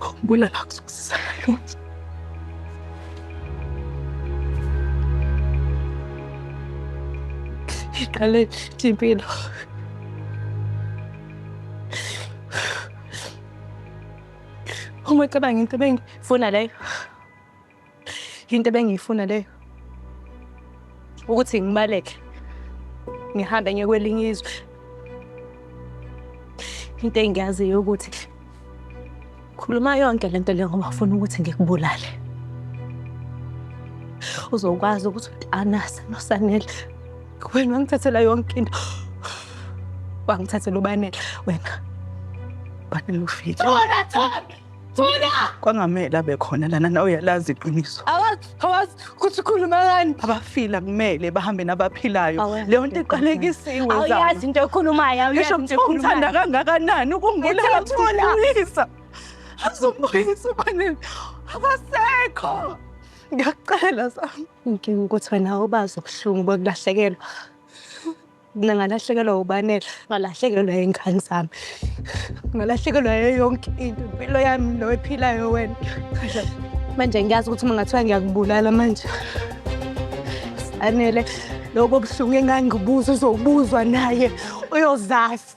Khumbula la kuzokusiza ngalo. Iqale impilo. Uma cabanga into bengifuna leyo. Into ebengiyifuna leyo ukuthi ngibaleke ngihambe ngiye kwelinye izwe. Into engiyaziyo ukuthi khuluma yonke lento le ngoba ufuna ukuthi ngikubulale. Uzokwazi ukuthi uTanasa noSanele wena wangithathela yonke into. Wangithathela ubanele wena. Banele ufile. Thola Thami! Thula! Kwangamele abe khona lana nawe uyalazi iqiniso. Awazi, awazi ukuthi ukhuluma ngani. Abafile akumele bahambe nabaphilayo. Awazi. Leyo nto iqalekisiwe Awuyazi zami. into ekhulumayo, awuyazi Ngisho into kuthiwa umthanda ekhulumayo. kangakanani ukungibulala Ngithe uthula. uzomuyisa. Azomuyisa ubani abasekho. Ngiyakucela Sam. Inkinga ukuthi wena awubazi ubuhlungu bokulahlekelwa. Mina ngalahlekelwa ubanela, ngalahlekelwa iy'ngane zami, ngalahlekelwa yonke into, impilo yami noyiphilayo wena. Manje ngiyazi ukuthi uma ngathiwa ngiyakubulala manje anele lobo buhlungu engangibuza uzobuzwa naye uyozazi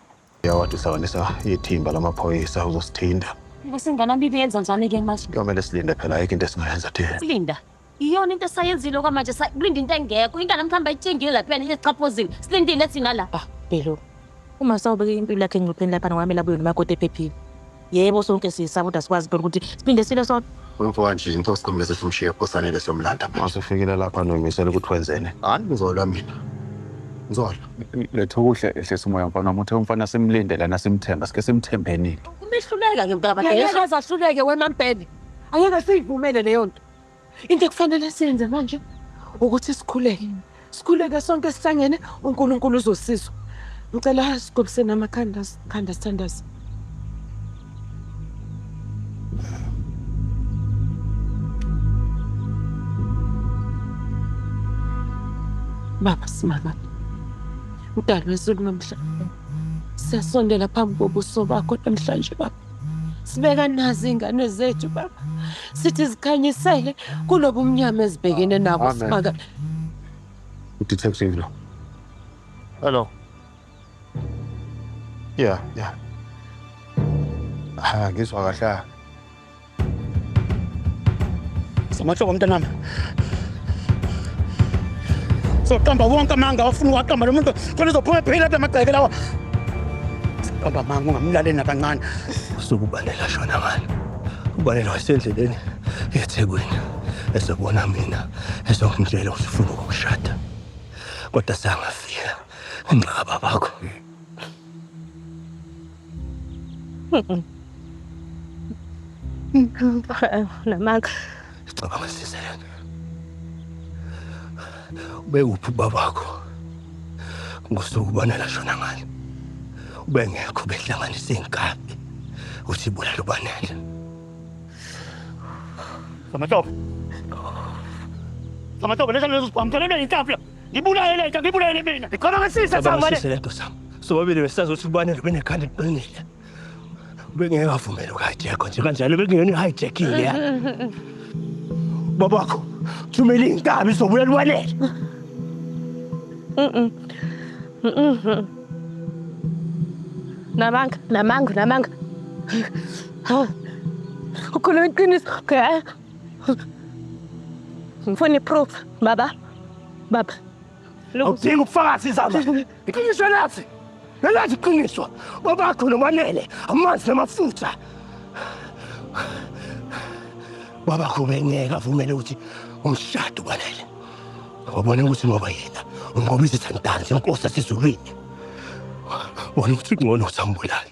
Yawathi uhlanganisa ithimba lamaphoyisa uzosithinta. Lesingane abibi yenza njani ke manje? Kuyomele silinde phela ayikho into esingayenza thina. Silinda. Iyona into esayenzile okwamanje sakulinda into engekho. Ingane mhlawumbe ayitshengile lapha yena iziqaphozile. Silindile thina la. Ah, Bhelu. Uma sawubeka impilo yakhe engcupheni lapha ngokwamela abuyona umakoti ephephile. Yebo sonke siyisaba kodwa sikwazi phela ukuthi siphinde sile sodwa. Umfoka nje into siqhumeze simshiye osanele somlanda. Masufikile lapha nomisela ukuthi wenzeni. Hayi ngizolwa mina. Ngizolwa. Letha ukudla ehlisa umoya mfana wami uthe umfana simlinde lana simthemba sike simthembenile. Umehluleka ngempela Angeke azahluleke wena mpele. Angeke siyivumele leyo nto. Into ekufanele siyenze manje ukuthi sikhuleke. Mm. Sikhuleke sonke sihlangene uNkulunkulu uzosizwa. Ngicela sigobisene amakhanda sikhanda sithandaze. Baba simama. Udalwe izulu nomhlaba. Siyasondela phambi kobuso bakho namhlanje baba. sibeka nazi ingane zethu baba sithi zikhanyisele kunobumnyama ezibhekene nabo Amen. simaka udetective lo Hello. Yeah, yeah. Ah, ngizwa kahle. Samahloko mntanami. soqamba wonke amanga awafuna uwaqamba lo muntu khona uzophuma ephila lapha amagceke lawa qamba amanga ungamlaleli nakancane usuke ubalela shona ngalo ubalela wasendleleni ethekwini esebona mina esongitshela ukuthi ufuna ukushada kodwa sangafika nxa babakho Namanga. Cabanga sisi lento. Ubekuphi ubaba wakho? Ngosuku ubona lashona ngani? Ubengekho behlanganisa inkabi. Uthi bulala ubanele. Samatopo. Samatopo, lesa lezo sibamthelele inkabi. Ngibulaye lento, ngibulaye mina. Ngicabanga ngasise Cabanga samane. sise lento sam. Sobabili besazi ukuthi ubanele benekhanda eliqinile. Ubengeke avumele uku-hijack nje kanjalo bekungeyona i-hijacking leya. Babakho thumela iy'nkabi zobulala ubanele. Namanga, namanga, namanga. Ukhuluma iqiniso. Okay. Ngifuna iproof baba. Baba. Awudingi ubufakazi izaba. Iqiniso lathi. Nelathi iqiniso. Babakho nomanele amanzi namafutha. Babakho bengeke avumele ukuthi umshado ubanele. Wabona ukuthi ngoba yena ungoba izithandani zenkosi yasezulwini. Wona ukuthi ungcono ukuthi ambulale.